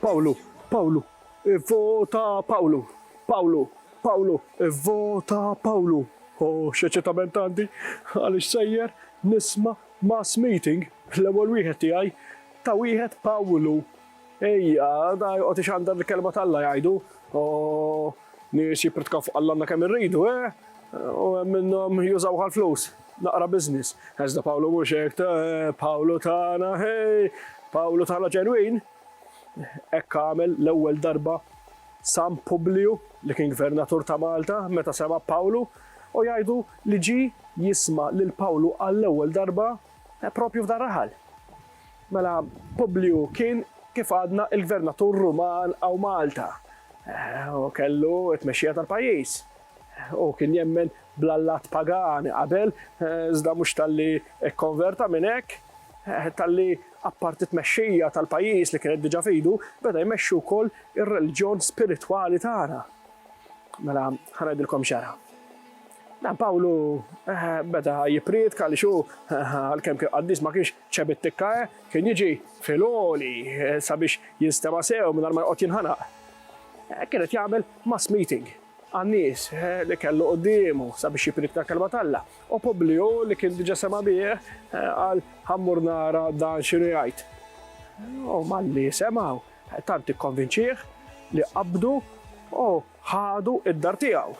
Pawlu, Pawlu, ivvota Pawlu, Pawlu, Pawlu, ivvota Pawlu. O, x'eċitament għandi għaliex sejjer nisma' mass meeting, l-ewwel wieħed tiegħi ta' wieħed Pawlu, Ejja, da joqgħod ixandar l-kelma t'Alla jgħidu, o nies jippritkaw fuq Alla għandna kemm irridu, eh? U hemm minnhom jużawh għall-flus, naqra business. Iżda Pawlu mhux hekk, Pawlu tagħna, ħej, Pawlu tagħna ġenwin. Hekk għamel l-ewwel darba San Publiju li kien gvernatur ta' Malta meta sema' Pawlu u jgħidu li ġie jisma' lil Pawlu għall-ewwel darba Propju f'dan raħal. Mela Publiju kien kif għadna il-gvernatur Ruman hawn Malta. U kellu t-tmexxija tal-pajjiż. U kien jemmen bl-allat pagani qabel, iżda mhux talli kkonverta minn hekk, talli apparti t-tmexxija tal-pajjiż li kienet diġà f'idu, beda jmexxi wkoll ir-reliġjon spiritwali tagħna. Mela ħa ngħidilkom x'ġara. Pawlu beda jipprietka għaliex hu, għalkemm kien qaddis, ma kienx ċebi t-tikka, kien jiġi fil-għoli sabiex jinstema' sew mingħajr ma joqgħod jinħanaq. Kien qed jagħmel mass meeting għan-nies li kellu quddiemu sabiex jipprietka l-Kelma t'Alla. U Publiju, li kien diġà sema' bih, qal, Ħa mmur nara dan x'inhu jgħid. U malli semgħu, tant ikkonvinċieh li qabdu u ħadu d-dar tiegħu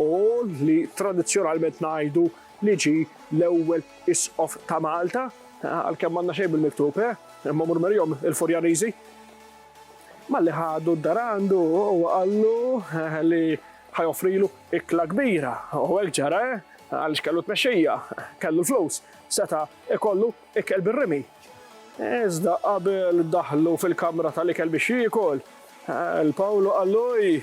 u li tradizzjonalment ngħidu li ġie l-ewwel Isqof ta' Malta, għalkemm m'għandna xejn bil-miktub, imma mur marihom il-Furjaniżi. Malli ħadu d-dar għandu huwa qallu li ħa joffrilu ikla kbira u hekk ġara għaliex kellu tmexxija, kellu l-flus, seta' ikollu Ikel bir-rimi. Iżda qabel daħlu fil-kamra tal-ikel biex jiekol, L. Pawlu qallu, Ej,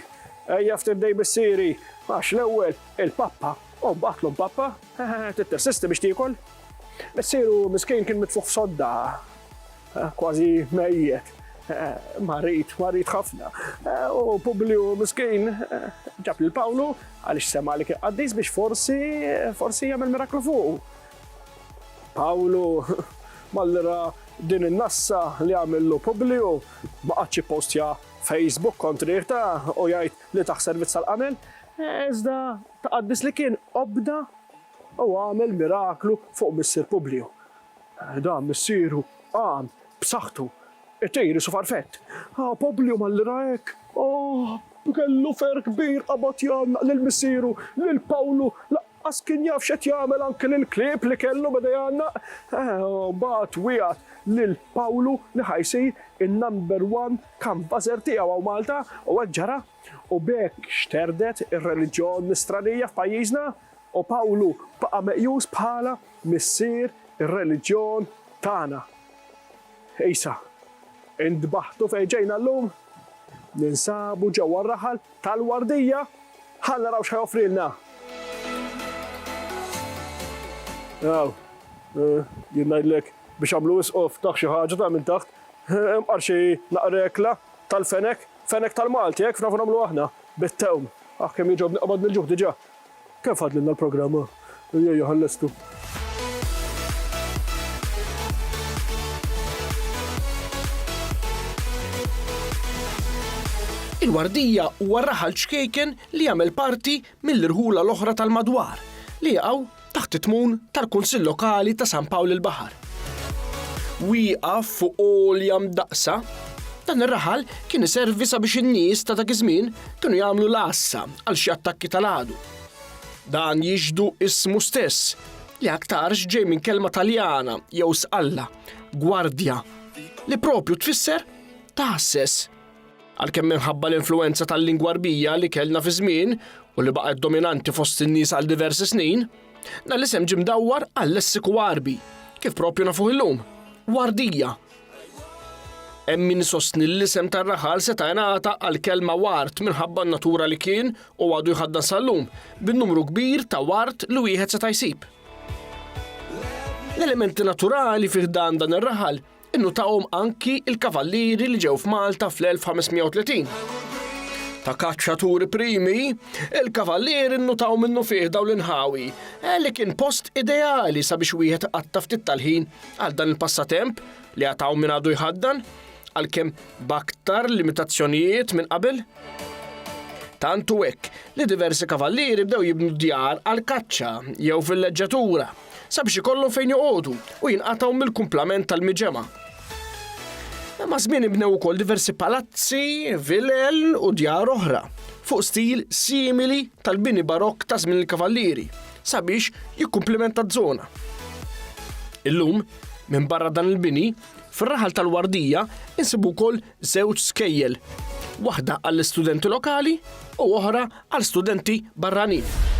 ejja ftit dej missieri, għax l-ewwel il-pappa u mbagħad l-omm pappa, trid tirsisti biex tiekol? Missieru miskin kien mitfugħ f'sodda, kważi mejjet, marid, marid ħafna, u Publiju miskin ġab lil Pawlu għaliex sema' li kien qaddis biex forsi, forsi jagħmel miraklu fuqu. Pawlu, malli ra din in-nassa li għamillu Publiju, ma qagħadx jippostja Facebook kontrih ta' u jgħid li tah servizz tal-qamel, iżda ta' qaddis li kien obda u għamel miraklu fuq missier Publiju. Dan missieru qam b'saħħtu, it-tejr isu farfett. U Publiju malli ra hekk, oh, kellu ferħ kbir, qabad jgħannaq lil missieru, lil Pawlu, Għax kien jaf x'qed jagħmel anki lill-klieb li kellu beda jgħannaq u mbagħad wiegħed lil Pawlu li ħa jsir in-number one canvasser tiegħu hawn Malta u hekk ġara u b'hekk xterdet ir-reliġjon nisranija f'pajjiżna u Pawlu baqa' meqjus bħala missier ir-reliġjon tagħna. Isa, intbaħtu fejn ġejna llum, ninsabu ġewwa r-raħal tal-Wardija, ħa naraw x'ħa joffrilna. Aw, jien ngħidlek biex għamlu wisqu ftaħ xi ħaġa ta' minn taħt, imqar xi naqrekla tal-fenek, fenek tal-Malti hekk nafu nagħmlu aħna, bit-tewm. Aħ kemm jogħġobni qabad mill-ġuħ diġà. Kemm fadlilna l-programm? Ejjejo ħallestu. Il-Wardija huwa raħal ċkejken li jagħmel parti mill-irħula l-oħra tal-madwar li jaqgħu taħt it-tmun tal-Kunsill Lokali ta' San Pawl il-Baħar. Wieqaf fuq għolja mdaqqsa, dan ir-raħal kien iservi sabiex in-nies ta' dak iż-żmien kienu jagħmlu l-għassa għal xi attakki tal-għadu. Dan jixdu ismu stess, li aktarx ġej minn kelma Taljana jew sqalla, gwardja, li propju tfisser taħsses. Għalkemm minħabba l-influenza tal-lingwa rbija li kellna fi żmien u li baqgħet dominanti fost in-nies għal diversi snin, dan l-isem ġim dawwar għal lessiku Għarbi, kif propju nafuh illum, wardija. Hemm min isostni li l-isem tar-raħal seta' ingħata għal kelma ward minħabba n-natura li kien, u għadu jħaddan sal-lum, bin-numru kbir ta' ward li wieħed seta' jsib. L-elementi naturali fi ħdan dan ir-raħal innutahom anki l-kavallieri li ġew f'Malta fl-1530. Ta' kaċċaturi primi, il-kavallieri nnutaw minnufih dawn l-inħawi, eh, li kien post ideali sabiex wieħed qatta' ftit tal-ħin għal dan il-passatemp li għad hawn min għadu jħaddan, għalkemm b'aktar limitazzjonijiet minn qabel. Tant u hekk li diversi kavallieri bdew jibnu djar għal kaċċa jew fil-leġġatura sabiex ikollhom fejn joqogħdu u jinqatgħu mill-kumplament tal-miġema. Ma' żmien ibnew ukoll diversi palazzi, vilel u djar oħra fuq stil simili tal-bini barokk ta' żmien il-kavallieri. sabiex jikkumplimenta z-zona. Illum, minn barra dan il-bini, fir-raħal tal-Wardija insibu wkoll żewġ skejjel, waħda għall-istudenti lokali u oħra għal studenti barranin.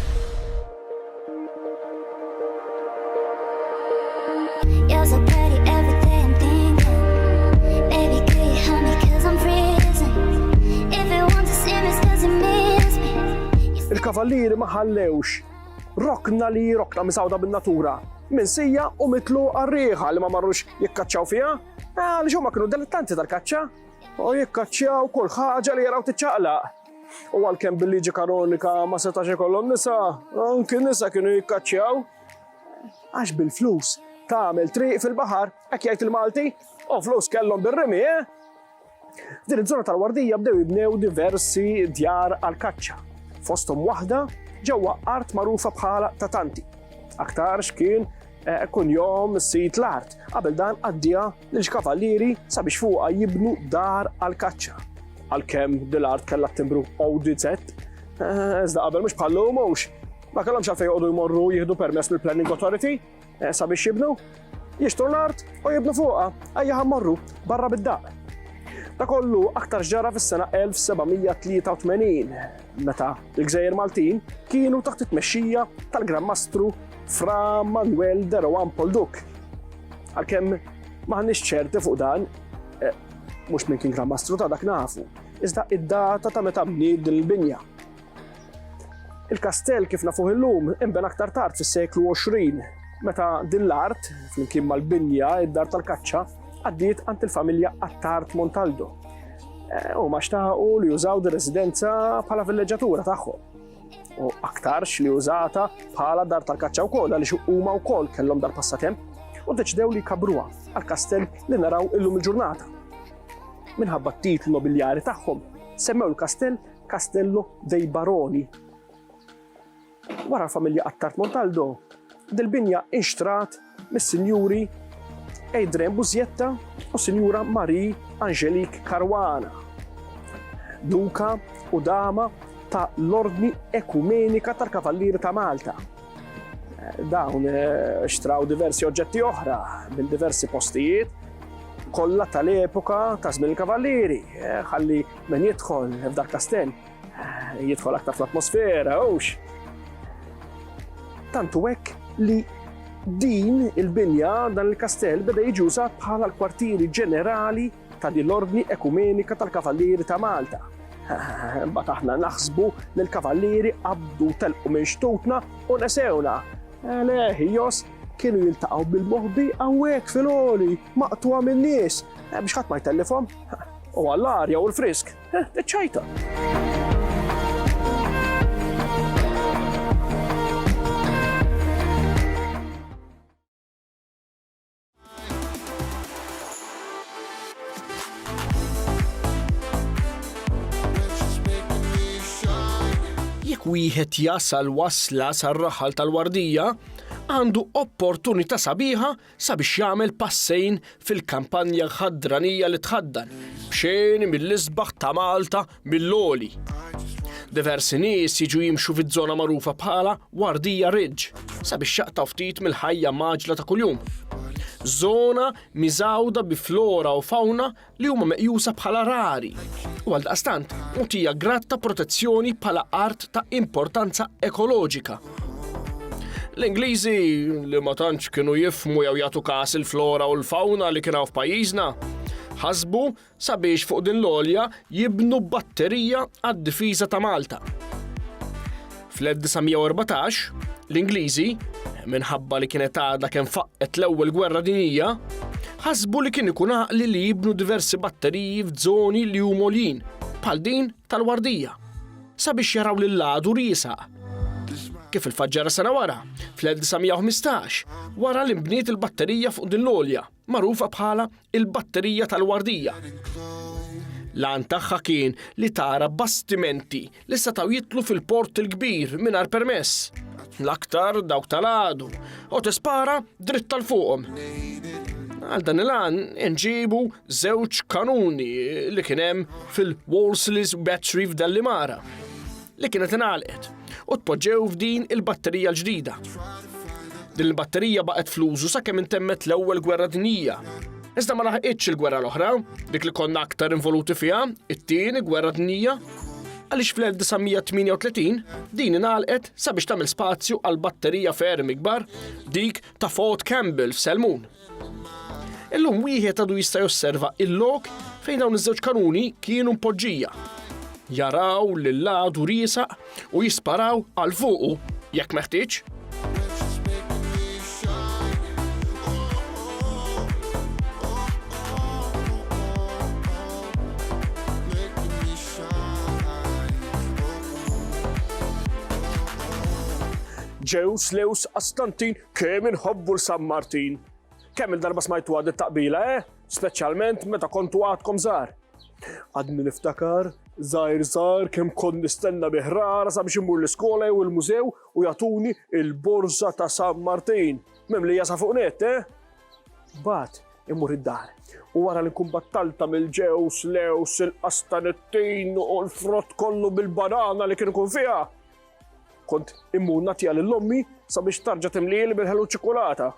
il-kavallieri ma ħallewx rokna li rokna misawda bin-natura minn sija u mitlu għarriħa li ma marrux jikkaċċaw fija, eh, għaliex huma kienu dilettanti tal-kaċċa u jikkaċċaw kull ħaġa li jaraw tiċċaqlaq. U għalkemm bil-liġi kanonika ma setax ikollhom nisa, anki nisa kienu jikkaċċjaw. Għax bil-flus tagħmel triq fil-baħar, hekk jgħid il-Malti, u flus kellhom bir-rimi, eh? F'din iż-żona tal-Wardija bdew jibnew diversi djar għall-kaċċa, fosthom waħda ġewwa art magħrufa bħala ta' tanti. Aktarx kien eh, kunjom sid l-art, qabel dan qaddieha lill-Kavalieri sabiex fuqha jibnu dar għall-kaċċa. Għalkemm Dil Art kellha t-timbru ODZ, eh, iżda qabel mhux bħal lum hux ma kellhomx għalfejn joqogħdu jmorru jieħdu permess mill-Planning Authority eh, sabiex jibnu, jixtru l-art u jibnu fuqha, ejja ħammorru barra bid-daq. Ta' kollu aktar ġara fis-sena 1783. meta l-Gżejjer Maltin kienu taħt it-tmexxija tal-Gran Mastru Fra Manuel de Rohan Polduk. Għalkemm maħniex ċerti fuq dan, eh, mhux minn kien Gran Mastru ta' dak nafu, iżda id-data ta' meta bnied din il-binja. Il-kastell kif nafuh illum imben aktar tard fis-seklu 20 meta din l-art, flimkien mal-binja, id-dar tal-kaċċa, għaddiet għand il-familja Attard Montaldo Eh, u maċtaħu li jużaw di residenza bħala villeġġatura tagħhom. U aktarx li użata bħala dar tal-kaċċa wkoll għaliex huma wkoll kellhom dar passatemp u deċdew li kabruha għal kastell li naraw illum il-ġurnata. Minħabba t-titlu nobiljari tagħhom semmew il-kastell Castello dei Baroni Wara l-familja Attard Montaldo, dil-binja inxtrat mis-Sinjuri Adrian Busietta u s-Sinjura Marie Angelique Caruana, Duka u Dama ta' l-Ordni Ekumenika tal-Kavallieri ta' Malta. Dawn xtraw diversi oġġetti oħra minn diversi postijiet kollha tal-epoka ta' żmien il-Kavallieri, ħalli min jidħol f'dal-kastell Jidħol aktar fl-atmosfera, hux. Tantu hekk li din il-binja dan il-kastell beda jiġi użat bħala l-kwartieri ġenerali ta' din l-ordni ekumenika tal-Kavallieri ta' Malta. Bat aħna naħsbu li l-Kavallieri qabdu telqu minn xtutna u nesewna. Leħ, jos, kienu jiltaqgħu bil-moħbi għawek fil-oli, maqtuwa minn nies, eh, biex ħadd ma jtellifhom. U għall-arja u l-frisk. Eh, iċċajta. wieħed jasal wasla sar-raħal tal-wardija, għandu opportunità sabiħa sabiex jagħmel passejn fil-kampanja ħadranija li tħaddan b'xejn mill-isbaħ ta' Malta mill-għoli. Diversi nies jiġu jimxu fiż-żona magħrufa bħala Wardija Ridge sabiex jaqtaw ftit mill-ħajja maġla ta' kuljum. Żona miżawda bi flora u fawna li huma meqjusa bħala rari u għaldaqstant mutija grad ta' protezzjoni bħala art ta' importanza ekoloġika. L-Ingliżi li ma tantx kienu jifmu jew jagħtu kas il-flora u l-fawna li kienu f'pajjiżna ħasbu sabiex fuq din l-olja jibnu batterija għad-difiża ta' Malta. Fl-1914, l-Ingliżi, minħabba li kienet għadha kemm faqqet l-Ewwel Gwerra Dinjija, ħasbu li kien ikun għaqli li jibnu diversi batteriji f'żoni li huma għoljin, bħal din tal-Wardija, sabiex jaraw lil għadu riesaq. Kif il-faġġara sena wara, fl-1915, wara li nbniet il-batterija fuq din l-olja, magħrufa bħala il-Batterija tal-Wardija. L-għan tagħha kien li tara bastimenti li setgħu jitlu fil-port il-kbir mingħajr permess. L-aktar dawk tal-għadu, u tispara dritt tal-fuqhom. Għal dan il-għan inġibu żewġ kanuni li kienem fil-Wolseley's Battery f'Dallimara. li kienet ingħalqet u tpoġġew f'din il-batterija l-ġdida. Din il-batterija baqgħet fl-użu sakemm intemmet l-Ewwel Gwerra Dinjija. Iżda ma laħqitx il-gwerra l-oħra, dik li konna aktar involuti fiha, it-tieni gwerra dinjija, għaliex fl-1938 din ingħalqet sabiex tagħmel spazju għal batterija ferm ikbar, dik ta' Fort Campbell f'Selmun. Illum wieħed għadu jista' josserva il-lok fejn dawn iż-żewġ kanuni kienu mpoġġija. Jaraw lil għadu riesa u jisparaw għal fuqu jekk meħtieġ. Ġews, Lews, Astantin Kemm inħobbu l-San Martin! Kemm il-darba smajtu għad it-taqbila, eh? Speċjalment meta kontu għadkom żgħar. Għadni niftakar, żgħir żgħar kemm kont nistenna bi ħrara sabiex immur l-iskola jew il-mużew u jagħtuni il-borża ta' San Martin. Memlija sa fuq net, eh? Bat, immur id-dar. U wara li nkun battalta mill-ġews, lews, il-qastanettin u l-frott kollu bil-banana li kien ikun fiha, Kont immur nagħtiha lil ommi sabiex tarġa' timlieli bil-ħelu ċikulata.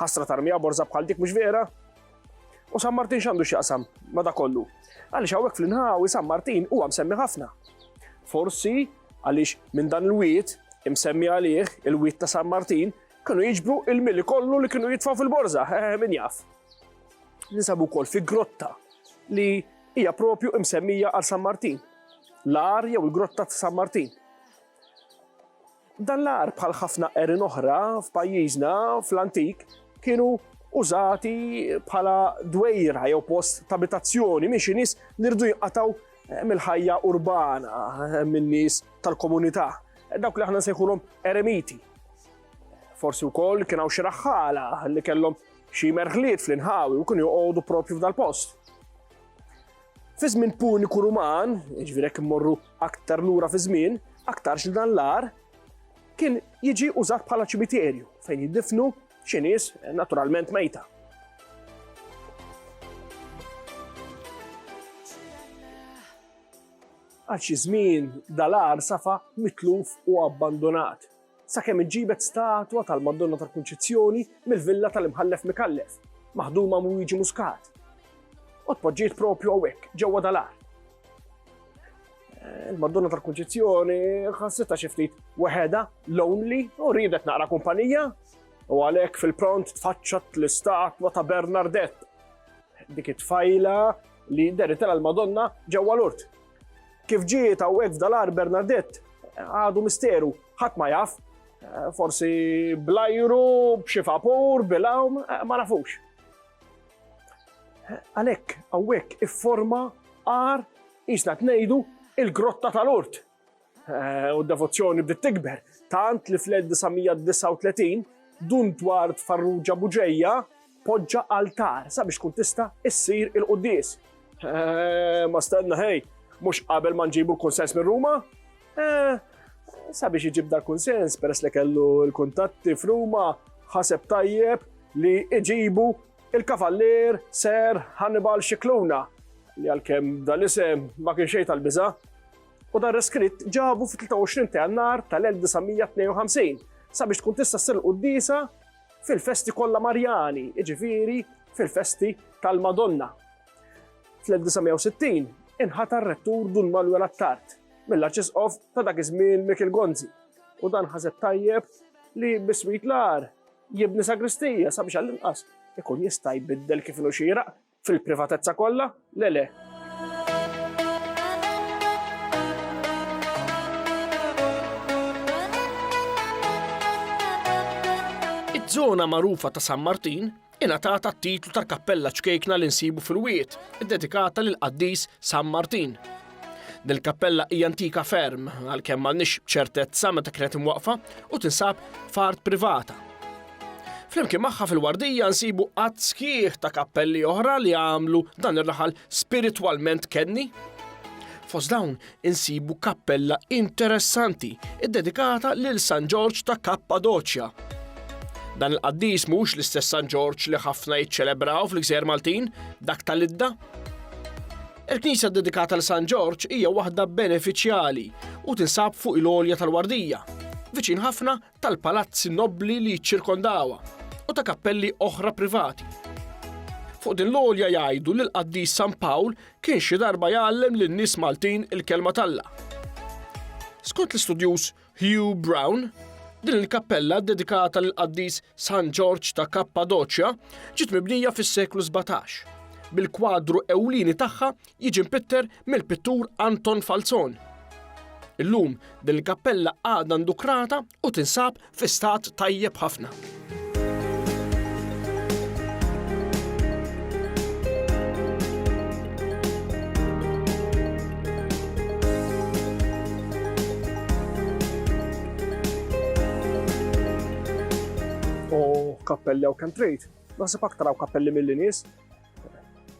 Ħasra tarmija borza bħal dik mhux vera? U San Martin x'għandu x'jaqsam ma da kollu? Għaliex hawnhekk fl-inħawi San Martin huwa msemmi ħafna. Forsi għaliex minn dan il-wiet imsemmi għalih il-wiet ta' San Martin kienu jiġbru il-mili kollu li kienu jitfaw fil-borza, eh, min jaf. Ninsabu kol fi grotta li hija propju imsemmija għal San Martin. l-għar jew il-Grotta ta' San Martin. Dan l-għar bħal ħafna qerin oħra f'pajjiżna fl-antik kienu użati bħala dwejra jew post ta' abitazzjoni minn xi nies li rdu jinqataw eh, mill-ħajja urbana eh, min-nies tal-komunità. Eh, dawk li aħna nsejħulhom eremiti. Forsi wkoll kien hawn xi raħħala li kellhom xi merħliet fl-inħawi u kienu joqogħdu propju f'dal-post. Fi żmien Puniku Ruman, jiġifieri jekk immorru aktar lura fiż-żmien, aktarx li dan l-għar kien jiġi użat bħala ċimiterju fejn jiddifnu xi nies naturalment mejta. Għal xi żmien dal-għar safa mitluf u abbandonat. sakemm inġibet statwa tal-Madonna tal-Kunċizzjoni mill-villa tal-Imħallef Micallef, maħduma minn Luigi Muscat, u tpoġġiet propju hawnhekk, ġewwa dal-għar. Eh, Il-Madonna tal-Kunċizzjoni ħassitha xi ftit weħeda, lonely, u riedet naqra kumpanija, u għalhekk fil-pront tfaċċat l-istatwa ta' Bernardett. Dik it-tfajla li deritela l-Madonna ġewwa l-urt. Kif ġiet hawnhekk f'Dalar Bernadett għadu misteru, ħadd ma jaf. Eh, forsi blajru, b'xi vapur, bilawm, eh, ma nafux. Eh, għalhekk hawnhekk ifforma għar isna tnejdu il-grotta tal-urt. U d-devozzjoni bdiet tikber, tant li fl-1939 Dun Dward Farrugia Bugeja poġġa altar sabiex tkun tista' issir il-quddies. Eeh, ma stenna ħej, mhux qabel ma nġibu l-kunsens minn Ruma? Eeh, sabiex iġib dal-kunsens peress li kellu l-kuntatti f'Ruma, ħaseb tajjeb li iġibu il-Kavallier Sir Hannibal Scicluna, li għalkemm dal-isem ma kien xejn tal-biża', u dan reskritt ġabu fit-23 ta' Jannar tal-1952 sabiex tkun tista' ssir il-quddiesa fil-festi kollha Marjani, jiġifieri fil-festi tal-Madonna. Fl-1960 inħata r-rettur Dun Manuel Attard mill-Arċisqof ta' dak iż-żmien Mikil Gonzi u dan ħaseb tajjeb li biswit l-ar jibni sagristija sabiex għall-inqas ikun jista' jbiddel kif inhu xieraq Fil-privatezza kollha? Le le. Iż-żona magħrufa ta' San Martin ingħatat t-titlu ta' kappella ċkejkna li nsibu fil-wiet, iddedikata lil qaddis San Martin. Dil-kappella hija antika ferm għalkemm m'għandniex ċertezza meta kienet imwaqfa u tinsab f'art privata. Flimkien magħha fil-wardija nsibu qatt sħiħ ta' kappelli oħra li għamlu dan ir-raħal spiritwalment kenni. Fost dawn insibu kappella interessanti iddedikata lil San Ġorġ ta' Kappadoċja. Dan il-qaddis mhux l-istess San Ġorġ li ħafna jiċċelebraw fl-Gżejjer Maltin, dak tal-idda. Il-knisja dedikata l San Ġorġ hija waħda benefiċjali u tinsab fuq il-olja tal-Wardija, viċin ħafna tal-palazzi nobbli li jiċċirkondawha u ta' kappelli oħra privati. Fuq din l-għolja jgħidu li l-qaddis San Pawl kien xi darba jgħallem lin nies Maltin il-kelma talla. Skont l-istudjuż Hugh Brown, din il-kappella dedikata lil qaddis San Ġorġ ta' Kappadoċja ġiet mibnija fis-seklu 17 bil-kwadru ewlieni tagħha jiġi mpitter mill-pittur Anton Falzon. Illum din il-kappella għadha ndukrata u tinsab fi stat tajjeb ħafna. U kappelli għaw kem trejt, naħseb aktar għaw kappelli mill-nies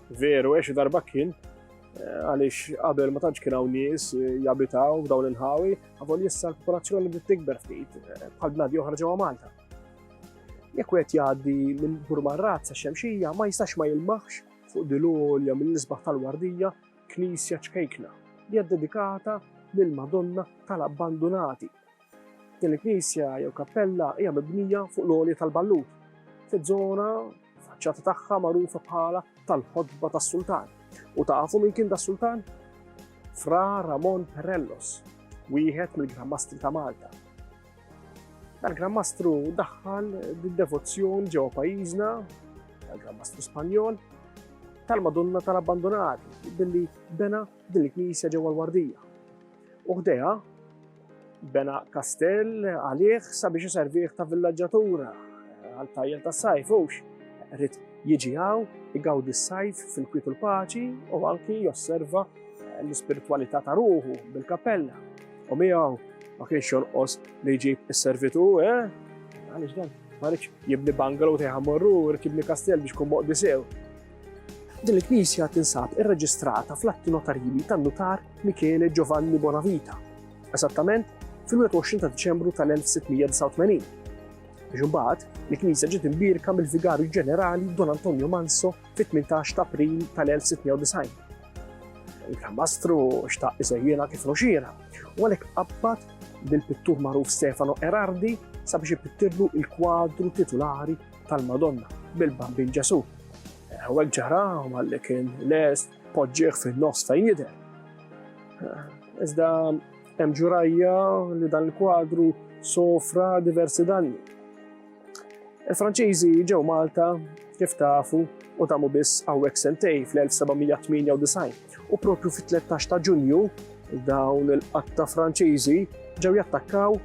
Veru, għexu darba kien, eh, għalix qabel ma tantx kien hawn nies eh, jabitaw f'dawn il-ħawi, għavol jissa l-popolazzjoni li tikber ftit eh, bħal bnadi oħra ġewwa Malta. Jekk wieħed jgħaddi minn Burmarrat sa xemxija ma jistax ma jilmaħx fuq dilolja mill-isbaħ tal-wardija knisja ċkejkna li hija dedikata lill-Madonna tal-abbandunati Din il-knisja jew kappella hija mibnija fuq l-għolja tal-Ballut, fi żona faċċata tagħha magħrufa bħala tal-Ħotba tas-Sultan. U tafu min kien das-Sultan? Fra Ramon Perellos, wieħed mill-Grammastri ta' Malta. Dal-Grammastru daħħal d-devozzjoni ġewwa pajjiżna, dal-Grammastru Spanjol, tal-Madonna tal-Abbandonati billi bena din il-knisja ġewwa l-Wardija. U ħdejha Bena kastell għalih sabiex iservih ta' villaġġatura għal tajjel tas-sajf hux rrid jiġi hawn igawdi s-sajf fil-kwiet u l-paċi u anki josserva l-ispiritwalità ta' ruħu bil-kappella. U miegħu ma kienx jonqos li jġib is-servitu, eh? Għaliex dan, ma rridx jibni bungalow tejħa morru, rrid jibni kastell biex kun moqdi sew. Din il-knisja tinsab irreġistrata fl-atti notarili tan-nutar Michele Giovanni Bonavita, esattament fil-21 ta' Diċembru tal-1689, biex imbagħad il-knisja ġiet imbierka mill-Vigarju Ġenerali Don Antonio Manso fit-18 ta' April tal-1690. Il-Gran Mastru xtaq iżejjena kif noxira, u għalhekk qabbad bil-pittur magħruf Stefano Erardi sabiex ipittirlu il-kwadru titulari tal-Madonna bil-Bambin Ġesu. Hawnhekk ġara malli kien lest poġġieħ fin-nofs fejn jidher. Iżda hemm ġurajja li dan il-kwadru sofra diversi danni. Il-Franċiżi ġew Malta kif tafu u tamu biss hawnhekk sentej fl-1798 u propju fit-13 ta' Ġunju dawn il-qatta Franċiżi ġew jattakkaw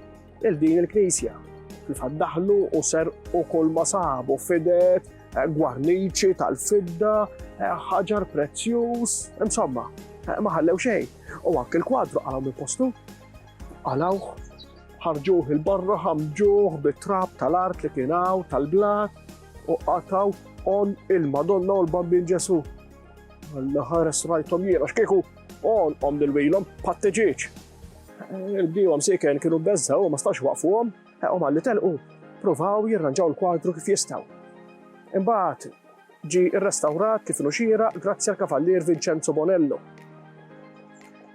il din il-knisja. Kif daħlu u serqu kull ma sabu fidet, eh, gwarniċi tal-fidda, eh, ħaġar prezzjuż, insomma, eh, ma ħallew xejn. U anke l-kwadru għalaw minn postu, għalaw ħarġuh il-barra ħamġuh bit-trab tal-art li kienaw tal-blat u qataw on il-Madonna u l-Bambin Ġesu. Għalla ħares rajtom jiena, xkieku on om dil-wilom patteġieċ. Il-bdiewa msieken kienu bbeżżgħu u ma setgħux iwaqqfuhom, u malli telqu, pruvaw jirranġaw il-kwadru kif jistgħu. Imbagħad ġie rrestawrat kif inhu xieraq grazzi għall-Kavallier Vincenzo Bonello.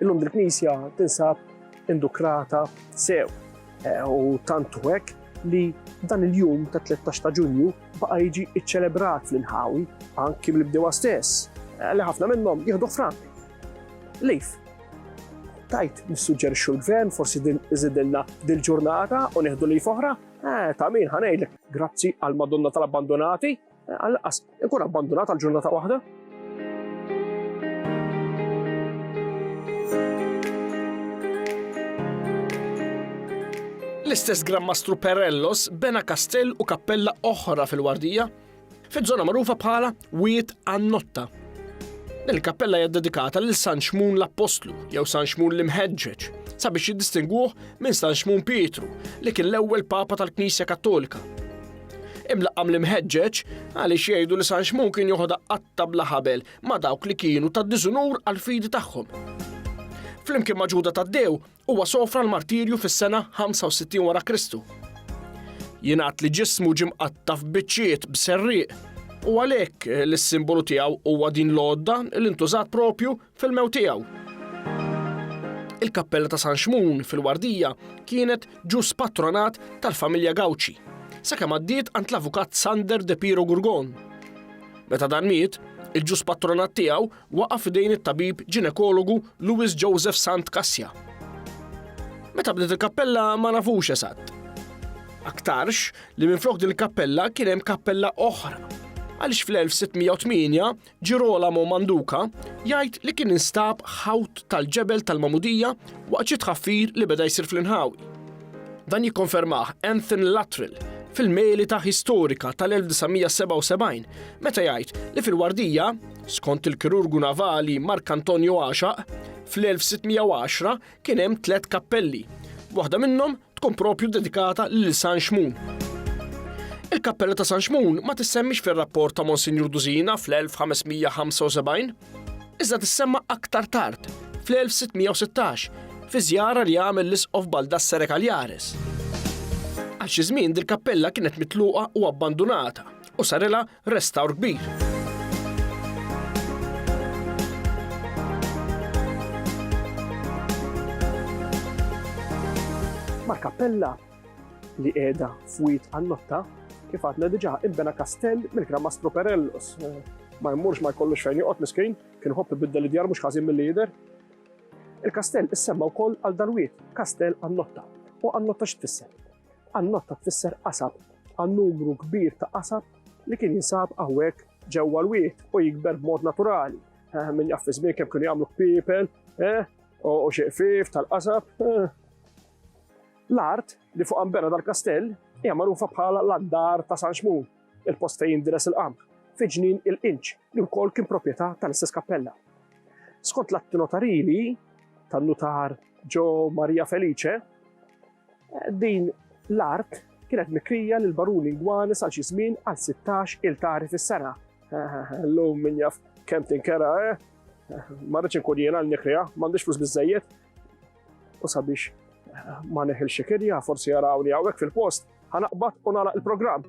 Illum dil-knisja tinsab indukrata sew eh, u tant hekk li dan il-jum ta' 13 ta' ġunju baqa' jiġi iċċelebrat fl-inħawi anki mill-bdewa stess, eh, li ħafna minnhom jieħdu frank. Lif, Tajt, nissuġġerixxu l-gvern, forsi din iżidilna dil-ġurnata u nieħdu li foħra? Eh, ta' min ħanejlek, grazzi għal Madonna tal-abbandonati, eh, għal-qas, ikun abbandonat għal ġurnata waħda. L-istess Gran Mastru Perellos bena kastell u kappella oħra fil-Wardija fiż-żona magħrufa bħala Wied għan-Notta. Din il-kappella hija dedikata lil San Xmun l-Appostlu jew San Xmun l-Imħeġġeġ sabiex jiddistingwuh minn San Xmun Pietru li kien l-ewwel Papa tal-Knisja Kattolika. Imlaqqam l-imħeġġeġ għaliex jgħidu li San Xmun kien joħodha qatta bla ħabel ma' dawk li kienu ta' diżunur għal fidi tagħhom. Flimkien ma' Ġuda Taddew Huwa sofra l-martirju fis-sena 65 wara Kristu. Jingħad li ġismu ġie mqatta' f'biċċiet b'serrieq u għalhekk li s-simbolu tiegħu huwa din l-għodda li ntużat propju fil-mewt tiegħu. Il-kappella ta' San Xmun fil-Wardija kienet ġus patronat tal-familja Gauci, sakemm għaddiet għand l-avukat Sander de Piro Gurgon. Meta dan miet, il-ġus patronat tiegħu waqa' f'idejn it-tabib ġinekologu Louis Joseph Sant Cassia. Meta bdiet il-kappella ma nafux esatt. Aktarx li minflok din il-kappella kien hemm kappella oħra għaliex fl-1608 Ġirolamo Manduca jgħid li kien instab ħawt tal-ġebel tal-Magħmudija waqt xi tħaffir li beda jsir fl-inħawi. Dan jikkonfermah Anthony Luttrell fil-Melita Historika tal-1977 meta jgħid li fil-Wardija Skont il-kirurgu navali Mark Antonio Għaxaq, fl-1610 kien hemm tliet kappelli. Waħda minnhom tkun propju dedikata lil San Xmun. Il-kappella ta' San Xmun ma tissemmix fir-rapport ta' Monsinjur Duzina fl-1575, iżda tissemma aktar tard, fl-1616, fi żjara li għamel l-Isqof Baldassare Cagliares. Għal xi żmien dil-kappella kienet mitluqa u abbandunata, u sarilha restawr kbir. Mal-kappella li qiegħda f'wied Annotta, kif għadna diġà imbena kastell mill-Gran Mastru Perellus. Ma jmurx ma jkollux fejn joqgħod miskin, kien ħobb ibiddel id-djar mhux ħażin mill jidher. Il-kastell issemma wkoll għal dal-wied, Kastell Annotta. U Annotta x'tfisser? Qannotta tfisser qasab, għal numru kbir ta' qasab li kien jinsab hawnhekk ġewwa l-wied u jikber b'mod naturali. Eh, min jaf żmien kemm kienu jagħmlu kpiepel, eh, u xi qfief tal-qasab. Eh. L-art li fuq ambena dal-kastell hija magħrufa bħala l-andar ta' San Xmun, il-post fejn jindiles il-qamħ, fi ġnien il-qinċ li wkoll kien proprjetà tal-istess kappella. Skont l-atti notarili tan-nutar Ġo Maria Felice, Din l-art kienet mikrija lill-baruni Ngwane sa xi żmien għal sittax iltari fis-sena. Llum min jaf kemm tinkera, eh? Ma rridx inkun jiena l-nikriha, m'għandix flus biżżejjed. U sabiex ma neħilx xi kirja, forsi jarawni hawnhekk fil-post, ħa naqbad u nagħlaq il-programm.